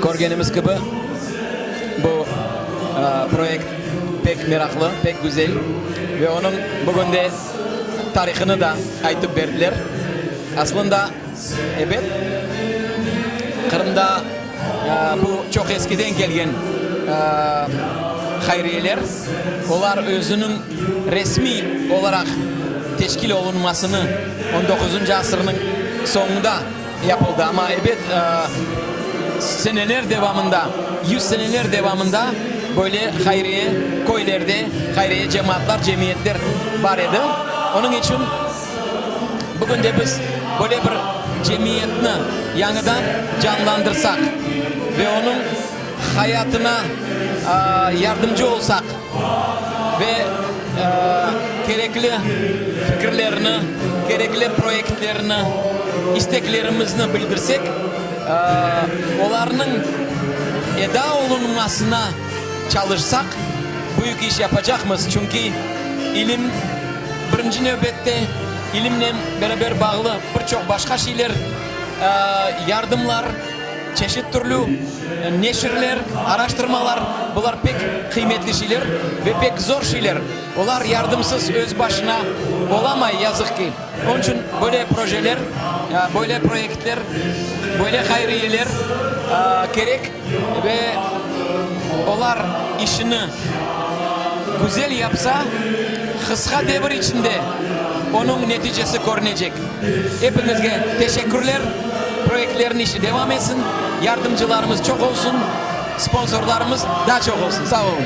Körgenimiz kibi, bu proyekt pek meraqlı, pek güzel ve onıñ bugün de tarihını da aytıp berdiler. Aslında, ebet, Qırımda Bu çoq eskiden kelgen hayriyeler. Olar özüniñ resmiy olaraq teşkil olunmasını on doquzuncı asırnıñ soñunda yapıldı. Amma, ebet, seneler devamında, yüz seneler devamında böyle hayriye köylerde, hayriye cemaatlar, cemiyetler bar edi. Onıñ içün. Bugün de biz böyle bir cemiyetni yañıdan canlandırsaq ve onıñ hayatına yardımcı olsaq ve kerekli fikirlerini, kerekli proyektlerini, isteklerimizni bildirsek, olarnıñ eda olunmasına Çalışsaq, büyük iş yapacaqmız, çünki ilim, birinci nevbette, ilimnen beraber bağlı bir çoq başqa şeyler, yardımlar, çeşit türlü neşirler, araştırmalar, bular pek qıymetli şeyler ve pek zor şeyler. Olar yardımsız, öz başına olamay, yazıq ki. Onıñ içün böyle projeler, böyle proyektler, böyle hayriyeler kerek. Ve olar işini güzel yapsa, qısqa devir içinde onıñ neticesi körünecek. Epiñizge teşekkürler, proyektlerniñ işi devam etsin, yardımcılarımız çoq olsun, sponsorlarımız daa çoq olsun. Sağ olun.